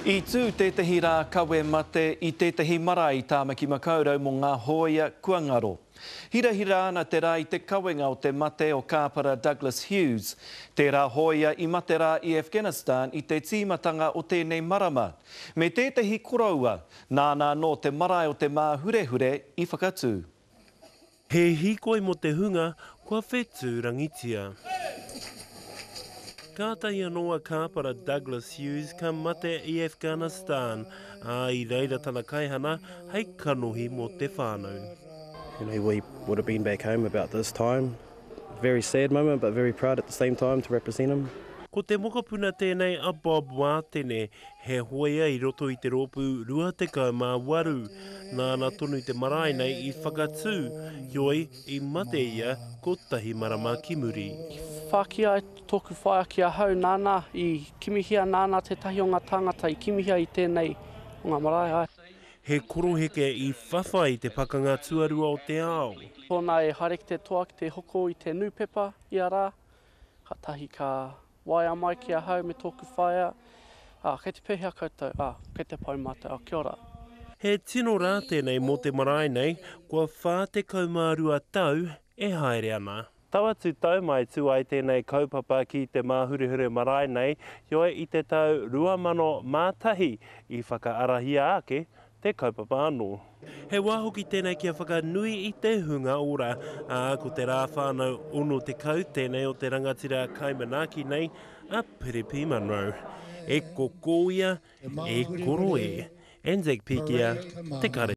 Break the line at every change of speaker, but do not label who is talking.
I tū tētehi rā kawe mate i tētehi marae i Tāmaki Makaurau mō ngā hōia kua ngaro. Hirahira ana te rā i te kawenga o te mate o Kāpara Douglas Hughes. Tērā hōia i mate rā i Afghanistan i te tīmatanga o tēnei marama. Me tētehi koroua, nāna anō te marae o Te Māhurehure i whakatū. He
hīkoi mō te hunga kua whetūrangitia. Kātahi anō a Kāpara Douglas Hughes ka mate i Afghanistan, ā, i reira tana kaihana hei kanohi mō te whānau. You know, he
would have been back home about this time. Very sad moment but very proud at the same time to represent him. Ko te mokopuna
tēnei a Bob Wātene, he hoea i roto i te rōpū 28, nāna tonu te marae nei i whakatū, heoi, i mate ia kotahi marama ki muri. I whāki ai
tōku whaea ki ahau, nāna i kimihia, nāna tētahi o ngā tāngata i kimihia i tēnei o ngā marae. He koroheke
i whawhai i te Pakanga Tuarua o te Ao. Tōna e haere ki
te toa ki te hoko i te nūpepa ia rā. Kātahi ka waea mai ki ahau me tōku whaea, ā, kei te pēhea koutou? Ā, kei te pau mātou, ā, kia ora. He tino
rā tēnei mō te marae nei, kua whā tekau mā rua tau e haere ana. Tau atu tau mai tū ai tēnei kaupapa ki Te Māhurehure Marae nei, heoi i te tau 2001 i whakaarahia ake te kaupapa anō. He wā hoki tēnei kia whakanui i te hunga ora, ā, ko te rā whānau 60 tēnei o te rangatira kai manaaki nei, a Piripi Munro. E koko ia, e koro e. Anzac Pikia, Te Kare.